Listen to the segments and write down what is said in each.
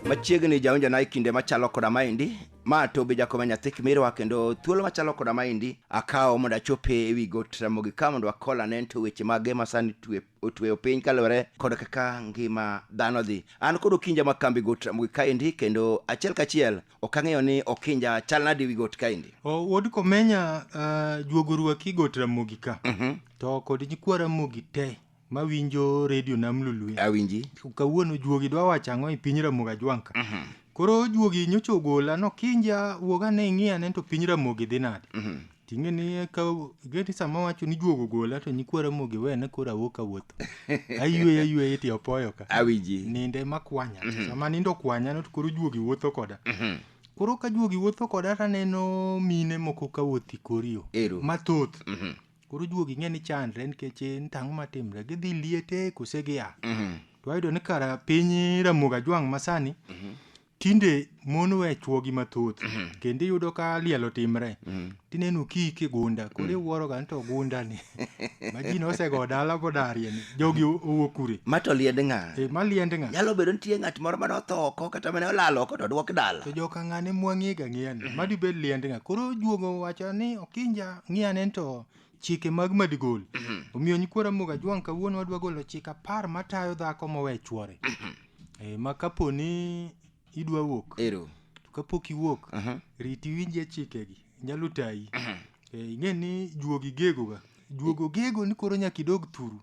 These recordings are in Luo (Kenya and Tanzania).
machiegni jaonjana e kinde machalo koda maendi ma tobe jakoma nyathi kimirwa kendo thuolo machalo koda maendi akawo mondo achope e wi got ramogi ka mondo akol anen to weche mage ma sani twe- otweyo piny kaluwore kod kaka ngima dhano dhi an kod okinja ma kambi got ramogi kaendi kendo achiel kachiel ok ang'eyo ni okinja chal nade wi got kaendi O, wuod komenya uh, juogo ruaki got ramogi ka Mhm. to kod nyikwa ramogi te mawinjo redio nam lulue awinji kawuono juogi dwa wacho ang'o e piny ramogi ajwanka Mhm. koro juogi nyocha ogola nokinja wuog ane ing'i ane to piny ramogi dhi nade Mhm. Ting'e ni ka geti sama wacho ni juogo gola to nyikwa Ramogi wena koro awuok awuotho. Ayueyo ayueyo iti opoyo ka. Awiji. Ninde makwanya. Mm -hmm. Sama nindo kwanya no to koro juogi wuotho koda. Mm -hmm. Koro ka juogi wuotho koda to aneno mine moko ka wuothi korio. Ero. Mathoth. Mm -hmm. Koro juogi ng'e ni chandre nikech en tang'o matimre. Gidhi liete kose gia. Mm -hmm. To ayudo ni kara piny Ramogi Ajwang' masani. Mm -hmm. tinde mon we chwogi mathoth mhm. kendo iyudo ka liel otimre mhm. tineno kik e gunda koro mhm. iwuoroga ni to gundani ma ji nosego dala bodarieni jogi owuok kure ma to liend ng'a eh, ma liend ng'a nyalo bedo nitie ng'at moro mane otho oko kata mane olal oko to odwok dala to joka ng'ane mwang'iga ng'iyani madibed liend ng'a koro juogo wacho ni okinja ng'iyane to chike mag madigol omiyo nyikwa ramoga jwang kawuono wadwa golo chik apar matayo dhako mowe chwore e, ma kapo ni idwa wuok ero to kapok iwuok Aha. riti winje chikegi nyalo tayi e, ing'e ni juogi gegoga juogo gego ni koro nyaka idog thuru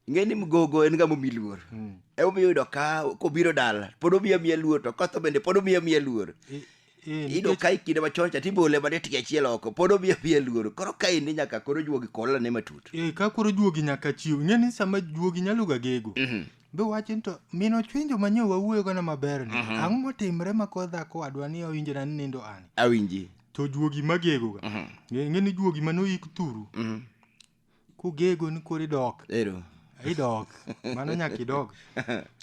ing'e ni mgogo en ng'ama omi luor Mm. emomiyo iyudo ka kobiro dala pod omiya miya luor to kotho bende pod omiya miya luor I- i- iyudo nikech- ka e kinde machon cha tibole mana tiga achiel oko pod omiya miya luor koro ka indi nyaka koro juogi kolane matut Eh, ka koro juogi nyaka chiw ing'e ni sama juogi nyalo ga gego Mhm. be wacho ni to min ochwenjo manyo wawuoyo gana maber ni Mhm. ang'o motimre ma koro dhako wadwa ni owinjona ni nindo an awinji to juogi magegoga Mhm. ing'e ni juogi mane oyik thuru Mhm. kugego ni koro idok Ero. idok mano nyaka idog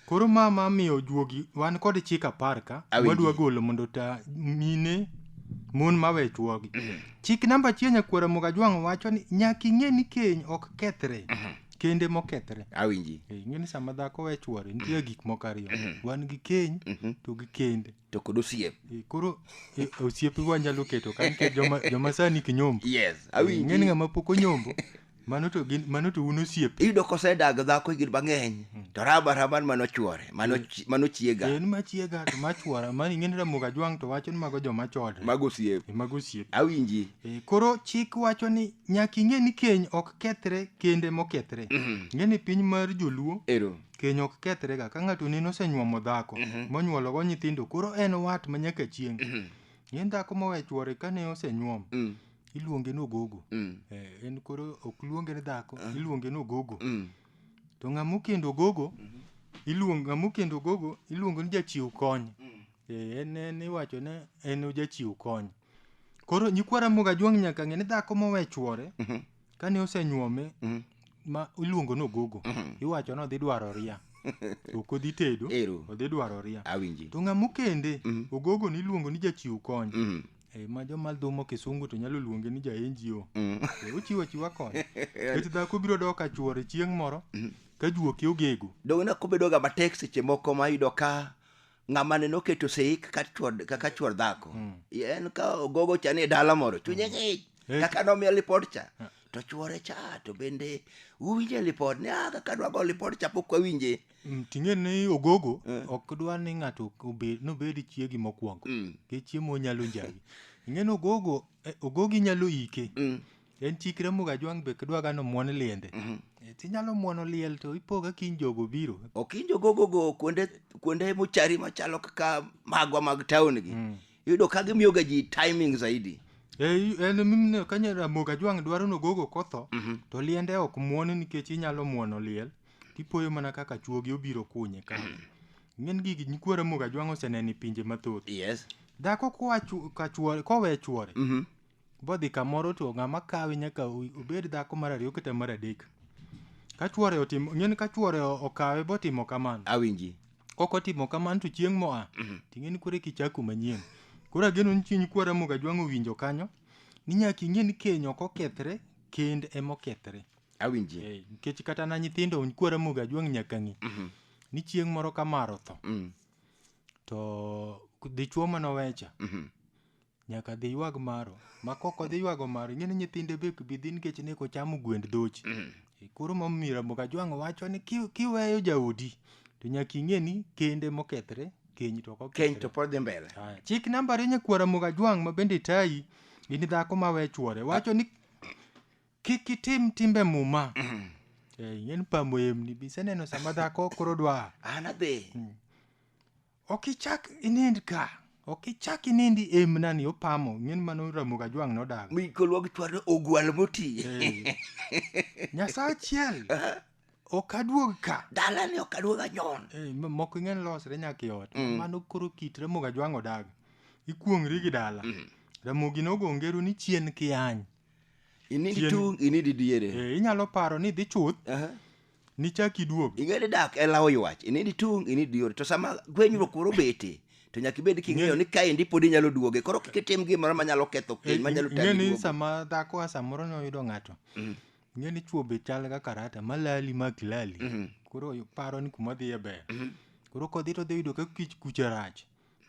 koro ma ma miyo juogi wan kod chik apar ka Awinji. wadwa golo mondo ta mine mon mawe chuogi chik namba achiel nyakwara moga jwang' wacho ni nyaka ing'e ni keny ok kethre kende mokethre Awinji. Eh, ing'e ni sama dhako we chuore nitie gik moko ariyo wan gi keny to gi kende to kod osiep Eh, koro eh, osiepe wanyalo keto ka nikech joma, joma sani ki nyombo yes ng'eni awinji ng'ama pok onyombo mano to gin mano to un osiepe iyudo kosedag dhako higni mang'eny to raba raban mano chwore mano chi- mano chiega en machiega to machuora mani ng'eni ramoga jwang' to wacho ni mago joma chodre mago osiep Eh, mago osiepe awinji Eh, koro chik wacho ni nyaka ing'e ni keny ok kethre kende mokethre ng'e ni piny mar joluo ero Keny ok kethrega ka ng'ato neno osenyuomo dhako monyuologo nyithindo koro en wat ma nyaka chieng'. En dhako mowe chwore kane osenyuom Mm. iluonge ni ogogo. Mm. Eh, en koro ok luonge ni dhako iluonge ni ogogo. Mm. To ng'ama okendo ogogo iluongo ng'ama okendo ogogo iluongo ni jachiw kony. Eh, en en iwacho ni en ojachiw kony. koro nyikwa ramoga juang' nyaka ng'e ni dhako mowe chwore Mhm. kane osenyuome Mhm. ma iluongo nogogo Mhm. iwacho ni odhi dwaro ria to ok odhi tedo Ero. odhi dwaro ria awinji to ng'ama okende Mhm. ogogo ni iluongo ni jachiw kony Mhm. Eh, ma joma dhumo kisungu to nyalo luonge ni jaenjio Mhm. Eh, ochiwo achiwa kony kech dhako biro dok ka chwore chieng' moro ka juoke ogego donge na kobedoga matek seche moko ma yudo ka ng'ama ne noketo sei kaka chwor kaka chwor dhako en ka ogogo cha ni e dala moro chunye ng'ich Eh. kaka nomiya lipod cha to chwore cha to bende uwinje lipod ni ah kaka dwago lipod cha pok wawinje Mm, ting'e ni ogogo Eh. ok dwa ni ng'ato obed nobed chiegi mokwongo Mm. ke chiemo nyalo njagi ing'e ni ogogo eh, ogogi nyalo ike Mm. en chik Ramogi Ajwang' be kidwaga ni omuon liende Eh, tinyalo muono liel to ipoga kiny jogo biro okinjo gogogo kuonde kuonde mochari machalo kaka magwa mag town gi iyudo ka gimiyo ga ji timing zaidi Eh, en mimne kanya Ramogi Ajwang' dwaro ni ogogo kotho to liende ok muon nikech inyalo muono liel tipoyo mana kaka chuogi obiro kunye ka ng'en gigi nyikwa Ramogi Ajwang' oseneno e pinje mathoth yes dhako koa chu- ka chuore kowe chuore bodhi kamoro to ng'ama kawe nyaka obed dhako mar ariyo kata mar adek ka chuore otimo ng'eni ka chuore okawe botimo kamano awinji kok otimo kamano to chieng' moa mhm. ting'eni kore kichako manyien koro ageno ni chiny kwara moga jwang' owinjo kanyo ni nyaka ing'e ni keny ok okethre kend ema okethre awinji eh, nikech kata na nyithindo kwara moga jwang' nyaka ng'e mhm. ni chieng' moro ka mar otho mm. to dichuo manowecha mhm. Nyaka dhi ywag maro. Ma kok odhi ywago maro, ing'e ni nyithinde be bi dhi nikech ne ko chamo gwend dhochi. E, Koro ma miyo Ramogi Ajwang' wacho ni ki- kiweyo jaodi to nyaka ing'e ni kende mokethre keny to ok Keny to okethre. pod dhi mbele. Aya, Chik namba ariyo nyakwar Ramogi Ajwang' ma bende tayi in dhako ma we chwore wacho ni kik itim timbe muma. Eh, ing'e ni pamo emni biseneno sama dhako koro dwa An adhi. ok ichak inind ka ok ichak inindi emna ni opamo ng'en mano ramoga jwang' nodago mi kolwog chwarno ogwal moti Eh. nyasaye achiel ok aduog ka dalani ok aduoga nyon Eh, m- moko ing'en losre nyaka e ot Mm. mano koro kit ramoga jwang' odago ikuong'ri gi dala Mm. ramogi nogo ngero ni chien kiany inindi Chien- tung inindi diere Eh, inyalo paro ni dhi chuth Aha. nichak iduog. Ing'e ni dak en lawo ywach, inind itung', inind iyore. To sama gwenyruok koro obete, to nyaka ibed king'eyo ni kaendi pod inyalo duoge. Koro kik itim gimoro manyalo ketho keny, manyalo Ing'e tami ni duogo. sama dhako a samoro ne oyudo ng'ato. Ing'e ni chwo be chal ga karata, malali ma ok lali. Koro paro ni kuma odhiye ber. Koro kodhi to odhi yudo ka kich kucha rach.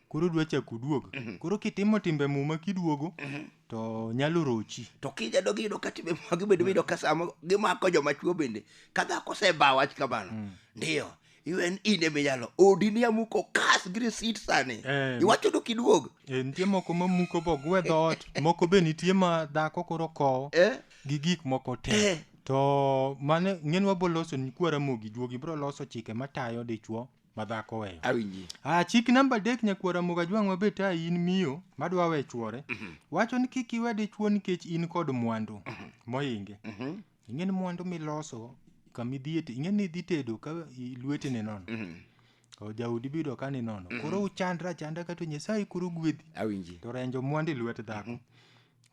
koro dwa chako duog mhm. koro kitimo timbe muma kiduogo mhm. to nyalo rochi to kija dogi yudo ka timbe muma gibedo yudo ka sama gimako joma chuo bende ka dhako oseba wach kamano mm. ndiyo iwen in eminyalo odi ni amuko kas gi risit sani eh, iwacho do kiduog eh, nitie moko mamuko bogwe dhoot moko be nitie ma dhako koro kowo eh? gi gik moko te eh. to mane ng'en waboloso ni kwara mogi juogi bro loso chike matayo dichwo madhako weyo awinji ah, chik namba adek nyakwara moga jwang' mabe ta in miyo madwa we chwore wacho ni kik iwe dichwo nikech in kod mwandu moinge ing'e ni mwandu miloso kamidhie ing'e ni idhi tedo ka i- lweti ni nono O, jaudi biyudo ka ni nono koro uchandra chanda kato nyasaye koro gwedhi awinji to renjo mwandu e lwet dhako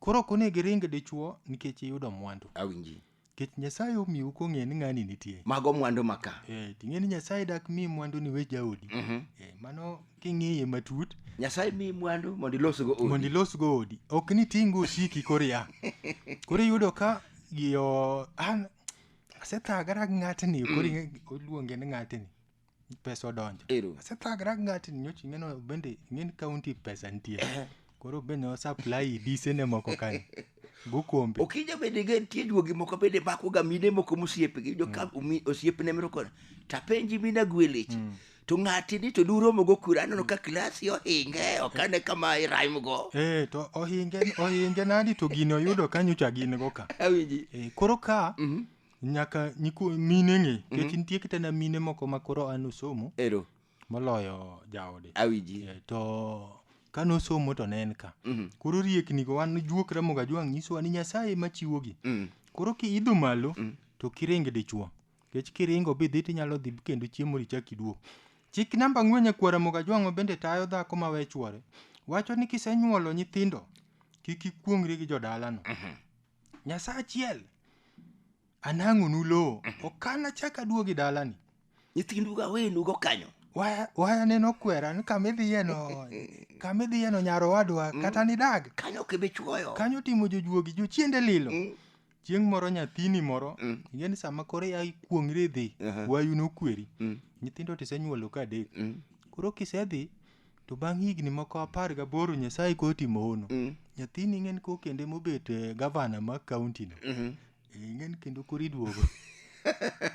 koro ok onego iring dichwo nikech iyudo mwandu awinji Nikech Nyasaye omiyou kong'eyo ni ng'ani nitie. Mago mwandu ma ka. Eh, ting'e ni Nyasaye dak mi mwandu ni we jaodi. Mhm. Eh, mano king'iye matut Nyasaye miyi mwandu mondo ilosgo odi. mondo ilosgo odi. Ok ni tingo osiki koro ya. Koro iyudo ka yo an asethagara gi ng'atni koro ing'e- oluonge ni ng'atni. pesa odonjo Ero. asethagra gi ng'atni nyocha ing'eno bende ing'eni kaunti pesa nitie Eh. koro bende osupply disene moko kanyo go kombe okija bende ge nitie juogi moko bende makoga mine moko mosiepgi jo ka umi- osiepne moro kono tapenji mina gwelech to ng'ati ni to duromogo kura aneno ka klasi ohinge ok ane kama irimgo Eh, to ohinge ohinge nadi to gini oyudo kanyocha gin go ka awinji Eh, koro ka nyaka nyiko mine ng'e Mhm. kech nitie kitana mine moko ma koro an osomo ero moloyo jaode awiji Eh, to kane osomo to ne en ka Mhm. koro rieknigo wan juok ramoga jwang' nyisowa ni nyasaye ema chiwogi Mm. koro kiidho malo Mm. to kiring dichuo kech kiringo bidhi tinyalo dhi kendo chiemo richak iduog chik namba ang'wen nyakwara moga jwang'o bende tayo dhako ma we chwore wacho ni kisenyuolo nyithindo kik ikuongri gi jodalano Nyasaye achiel. Anang'onu lowo. Okan achak aduogi dalani. Nyithindu ga wenu go kanyo. Waya waya neno kwera ni kama idhiye no kama idhiye no nyar owadwa kata nidag. Kanyo kebe chuoyo. Kanyo timo jojuogi jochiende lilo. Mm. Chieng' moro nyathini moro Mm. ing'e ni sama koro ya ikuong'ri idhi Aha. wayu nokweri. Mm. Nyithindo tisenyuolo ka adek. Mm. Koro kisedhi To bang' higni moko apar gaboro Nyasaye kotimo hono. Mm. Nyathini ing'en ko kendo emobet eh, gavana ma kaunti no. Mhm. Eh, Ing'en kendo koro iduogo.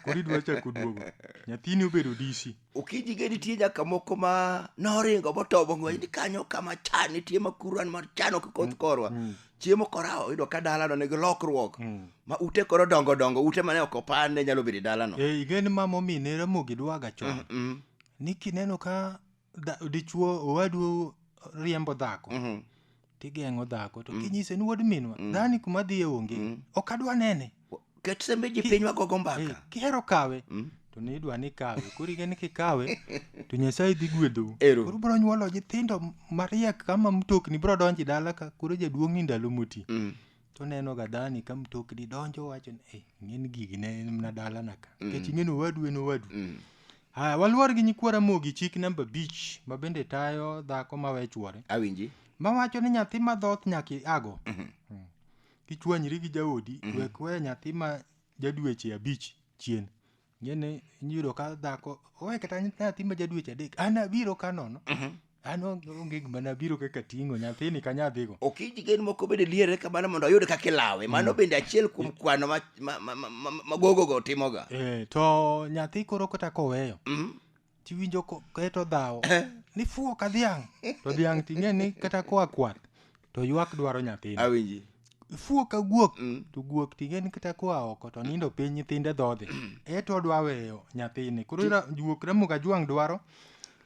koro idwa chako duogo. Nyathini obedo DC. Okinyi ge nitie nyaka moko ma noringo motobo ng'we ni kanyo kama chan nitie ma kuran mar chano kikoth korwa. Mm. Chiemo korawo yudo ka dalano nigi lokruok. Mm. Ma ute koro dongo dongo, ute mane ok opan ne nyalo bedo e dalano. Eh, ing'en ma momine Ramogi dwaga chon. Mm. Ni kineno ka dha- dichuo owadu riembo dhako Mhm. tigeng'o dhako to kinyise ni wuod minwa dhani kuma dhiye onge ok adwa nene ket sembe ji pinywa gogo Eh, mbaka kihero kawe to ni idwa ni kawe koro ing'e ni kikawe to nyasaye dhi gwedhou Ero. koro bro nyuolo nyithindo mariek kama mtokni bro donji dala ka koro jaduong' ni ndalo moti Mm. to neno ga dhani ka mtokni donjo wacho ni "Eh, ing'eni gigi ne en mana dalana ka nikech ing'eni owadu en owadu Mm. haya waluor gi nyikwa ramogi chik namba abich ma bende tayo dhako ma we chwore awinji ma wacho ni nyathi ma dhoth nyaka iago Mm. kichwanyri gi jaodi wek we nyathi ma jadweche abich chien Ng'eni iyudo ka dhako owe kata nyathi ma jadweche adek an abiro ka nono an onge onge gima nabiro kaka ting'o nyathini ka nyadhigo Okiji gen moko bende liere kamano mondo oyud kaka ilawe. Mano bende achiel kuom kwano ma, ma, ma, ma, ma, ma gogogo timoga. eh, to nyathi koro kata koweyo Mhm. tiwinjo ko- keto dhawo ni fuwo ka dhiang' to dhiang' ting'e ni kata koa kwath to ywak dwaro nyathine awinji fuwo ka guok Mm. to guok ting'e ni kata koa oko to nindo piny nyithinde dhodhe eto odwa weyo nyathine koro ira- guok ramuga jwang' dwaro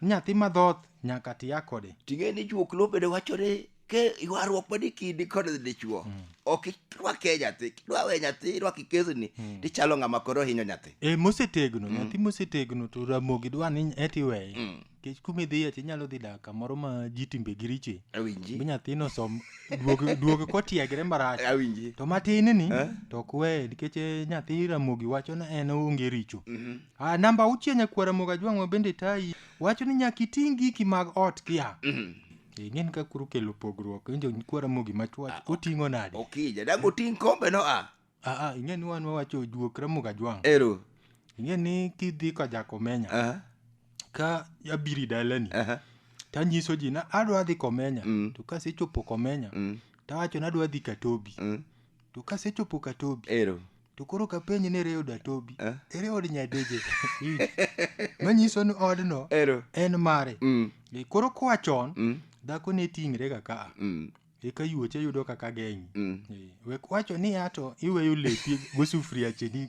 ni nyathi madhoth nyaka tiya kode ting'e ni juok lobedo wachore ke ywaruok ma dikidi kod dichwo mm. ok irwake nyathi kidwa we nyathi irwaki kesni mm. tichalo ng'ama koro hinyo nyathi e mosetegno mm. nyathi mosetegno to ramogi dwa ni eti weye mm. kech kuma idhiye to inyalo dhi dak kamoro ma ji timbe gi riche awinji mi nyathino som duog duog kotiegre marach awinji to matin ni eh? to ok weye nikech eh, nyathi ramogi wacho na en onge richo mm -hmm. ah, namba auchiel nyakwaramoga jwang'wa bende tayi wacho ni nyaka iting' giki mag ot kia mm -hmm. Eh, ng'en ka kuru kelo pogruok injo kwa ramogi machwach Ah, oting'o nade okija dago ting kombe no a aa ing'e ni wan wawacho juok ramogi ajwang' ero ing'e ni kidhi ka jakomenya aha ka abiri dalani aha tanyiso ji na adwa dhi komenya Mm. to kasechopo komenya mm tawacho ni adwa dhi katobi mm To kasechopo Katobi, Ero. to koro kapenj ni ere od Atobi, Eh? ere od Nyadeje. Iyudo? Manyiso ni odno Ero. en mare. Mm. E, Koro koa chon, Mm. dhako ne ting're ga ka. Mm. Eka yuoche yudo kaka geng'i. Mm. E, Wek wacho ni ato iweyo lepi gosufriache gi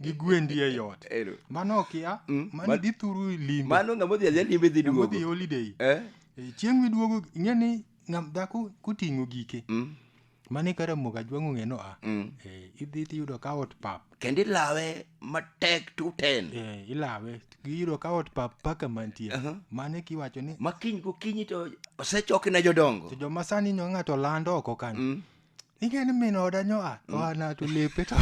gi gwendi e yot. Ero. Mano okia, Mm. mano Ma- dhi thuru limbe. Mano ng'ama odhi adhiya limbe dhi Ng'ama odhi duogo. holiday. Eh? E, Chieng' miduogo, ing'e ni ng'am dhako koting'o gike. Mm. mane ka ramogi ajwang'o ng'eno a Mm. eh, idhi tiyudo ka ot pap kendo ilawe matek tuten eh, ilawe giyudo ka ot pap paka mantie Aha. mane kiwacho ni ma kiny gokinyi to osechoki ne jodongo to joma sani nyo ng'ato land oko kanyo Mm. ing'eni min oda nyo a to ana to lepe to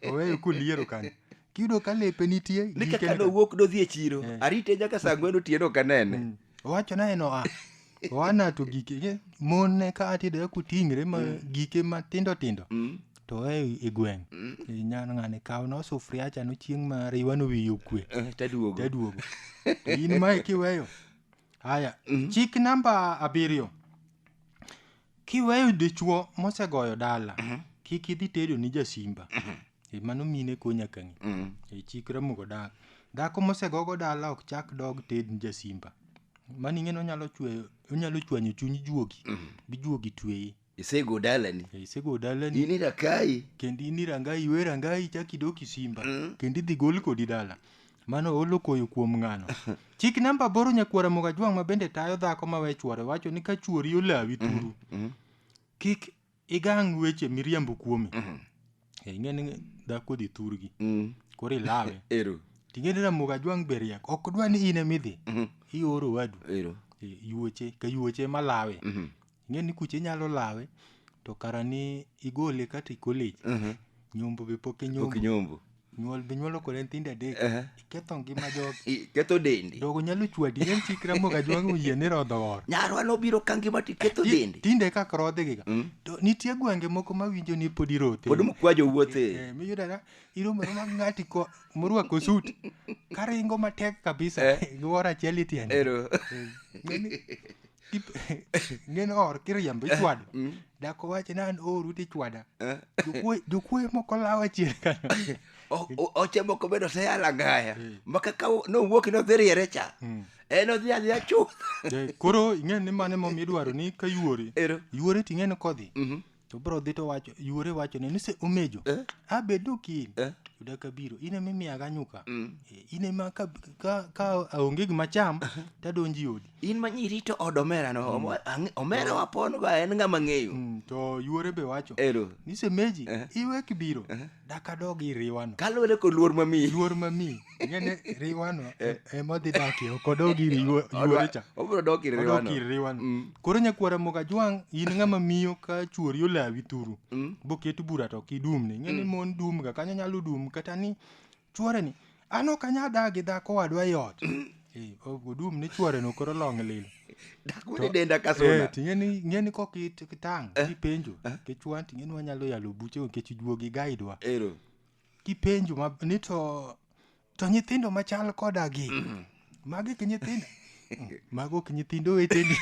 oweyo kuliero kanyo kiyudo ka lepe nitie ni gikeni kaka ka- nowuok dodhi e chiro Eh. arite nyaka saa ng'wen otieno kanene Mm. Owacho naye no a. Oana to gike ge- mon ne ka atidore kuting're ma gike matindo tindo. To e e gweng'. E nyan ng'ane kaw no sufria cha no chieng' ma riwa no wiyo kwe. Eh, taduogo Jaduogo. To in mae kiweyo. Haya, chik namba abiriyo. Kiweyo dichwo mosegoyo dala, kik idhi tedo ni jasimba. Eh, Mano mine ko nyaka ng'i. Eh, Chik Ramogo dak. Dhako mosegogo dala ok chak dog ted ni jasimba. Mano ing'e ni onyalo chweyo, onyalo chwanyo chuny juogi, bi juogi tweye. isego dalani Eh, Isego dalani in irakai kendo in irangai iwe rangai chak idok isimba kendo idhi gol kodi dala Mano olo koyo kuom ng'ano. Chik namba aboro nyakwar Ramogi Ajwang' ma bende tayo dhako ma we chwore wacho ni ka chwori olawi turu, kik igang' weche miriambo kuome. Eh, Ing'e ni dhako dhi thurgi, Mm. koro ilawe. Ero. Ting'e ni Ramogi Ajwang' be riek, ok dwa ni in emidhi, ioro wadu. Ero. Eh, Yuoche, ka yuoche ema lawe. ing'e ni kucha inyalo lawe to kara ni igole kata e college Mhm. nyombo be pok ok inyombo nyombo nyuol be nyuolo kode nyithindo adek Ehe. iketho ngima jogi I- ketho dendi jogo nyalo chwadi en chik ramogi ajwang' oyie ni rodho or nyarwa nobiro ka ngima to iketho Ti- dendi tinde kaka rodhigiga Mm. to nitie gwenge moko mawinjo ni pod irote pod mkwa jowuothe Eh, miyudara iromo roma gi ng'ati ko- morwako sut karingo matek kabisa Eh. gi wor achiel itiende ero Ng'eni, ng'en or kiriembo ichwado mm. dako wache ni an oru tichwada eh. jokuoye moko lawa chien kanyo oche moko bende oseyala ngaya eh. maka ka nowuok nodhi riere cha hmm. en odhi adhiya chuth eh, koro ing'e ni mane mom idwaro ni ka yuori yuori ting'e ni kodhi mhm. to bro dhi to wacho yuore wachone ni se omejo Eh? abed nokil Eh? yuda kabiro in ema imiyaga nyuka Mm. Eh, in ema ka, ka, ka aonge gima cham tadonji odi in ma nyirito od omera no omo- ang- omera wapon go en ng'ama ng'eyo mm, to yuore be wacho ero ni semeji Eh. iwe kibiro dakadog iriwano kaluwore kod luor mamiyi luor mamiyi ing'eni riwano e- ema odhi dakie ok odog ir yuo- yuore cha obiro dok ir odok ir riwano riwano Mm. koro nyakwara mogajwang' in ng'ama miyo ka chuori olawi thuru Mm. boket bura to ok idumne ing'eni mon dumga kanyo nyalo dum kata ni chuoreni an ok anyal dak gi dhako wadwa e ot Eh, o- odum ni chuoreno koro long' lilo dak wene denda ka Eh, suna to ing'eni ing'eni kok it- kitang' ipenjo kichwan to ing'eni wanyalo yalo buche nikech juogi gaidwa ero kipenjo ma ni to to nyithindo machal koda gi mm. magi ki nyithindo mago ki nyithindo weteni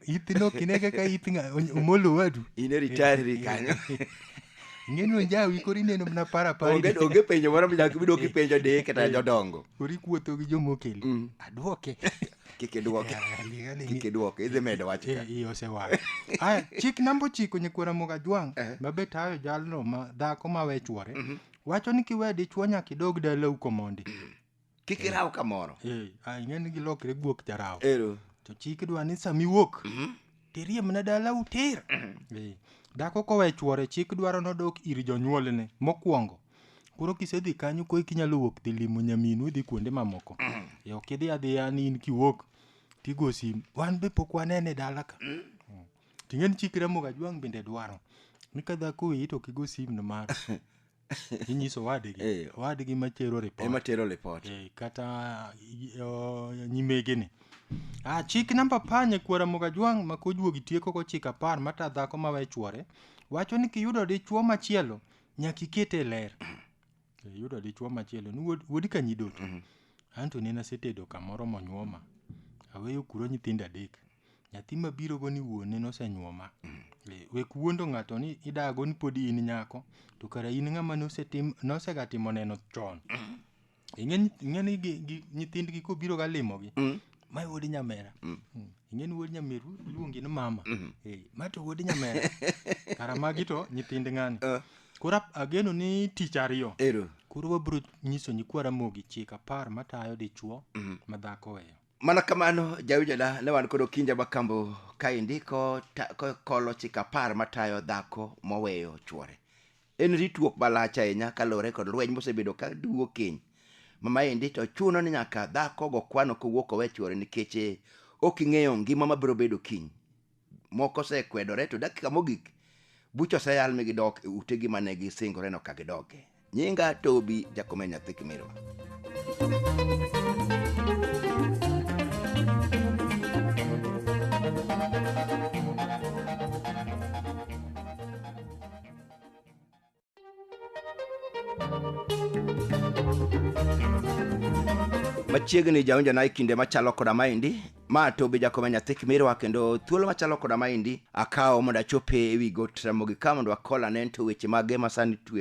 ithino kine kaka ith omolo wadu ine ritari kanyo ng'eni onjawi koro ineno mana paraparaonge onge penjo moro mnyaka ibidok ipenjo deye kata eh, jodongo koro ikuotho gi jomokeli mm. adwoke kik idwoke Eh, liga ni- kik idwoke idhi medo wach ka Eh, iye osewang' aya chik namba ochiko nyikwera mogajwang' Eh. ma be tayo jalno ma dhako ma we chwore wacho ni kiwe dichwo nyaka idog dalau komondi kik iraw kamoro Eh, ah, ing'e ni gilokre guok jarawo ero to chik dwa ni sama iwuok tiriemna dalau tir Eh, dhako kowe chwore chik dwaro nodok ir jonyuolne mokwongo Koro kisedhi kanyo koro inyalo wuok dhi limo nyaminu idhi kuonde mamoko. e ok idhi adhiya ni in kiwuok tigo simu. Wan be pok wanene dala ka. Mm. Ting'eni chik Ramoga Jwang' bende dwaro. Ni ka dhako wiyi to kigo simu no mar. inyiso wadgi eh. wadgi matero report ema tero report eh, kata uh, nyimege ni ah, chik namba panye kwara mogajwang' ma kojuogi tieko kochika par mata dhako mawe chwore wacho ni kiyudo dichwo machielo nyaka ikete e ler yudo dichuo machielo ni wuod wuod ka nyidoto anto ne nasetedo kamoro monyuoma aweyo kuro nyithindo adek nyathi mabiro go ni wuone nosenyuoma Eh, wek wuondo ng'ato ni idago ni podi in nyako to kara in ng'ama nosetim nosegatimo neno chon ing'e ni- ing'e ni gi- gi- nyithindgi kobiro ga limogi Mm. ma wuod nyamera Mm. Mm. ing'e ni wuod nyameru iluongi ni mama Mhm. Eh, ma to wuod nyamera kara magi to nyithind ng'ani Eh. koro ap- ageno ni tich ariyo ero koro wabiro nyiso nyikwa ramogi chik apar matayo dichwo Mhm. ma dhako weyo mana kamano jaujana ne wan kod okinja makambo kaendi ko- ta- ko- kolo chik apar matayo dhako moweyo chwore En ritruok malach ahinya kaluwore kod lweny mosebedo ka duwo keny. Ma maendi to chuno ni nyaka dhako go kwano kowuok owe chwore nikech eh, ok ing'eyo ngima mabiro bedo kiny. Moko osekwedore to dakika mogik bucha oseyal mi gidok e utegi mane gisingoreno ka gidoke. Nyinga Tobi Jakome nyathi Kimirwa. machiegni jaonja na e kinde machalo koda maendi ma to be jakoma nyathi kimirwa kendo thuolo machalo koda maendi akawo mondo achope e wi got ramogi ka mondo akolane to weche mage masani twe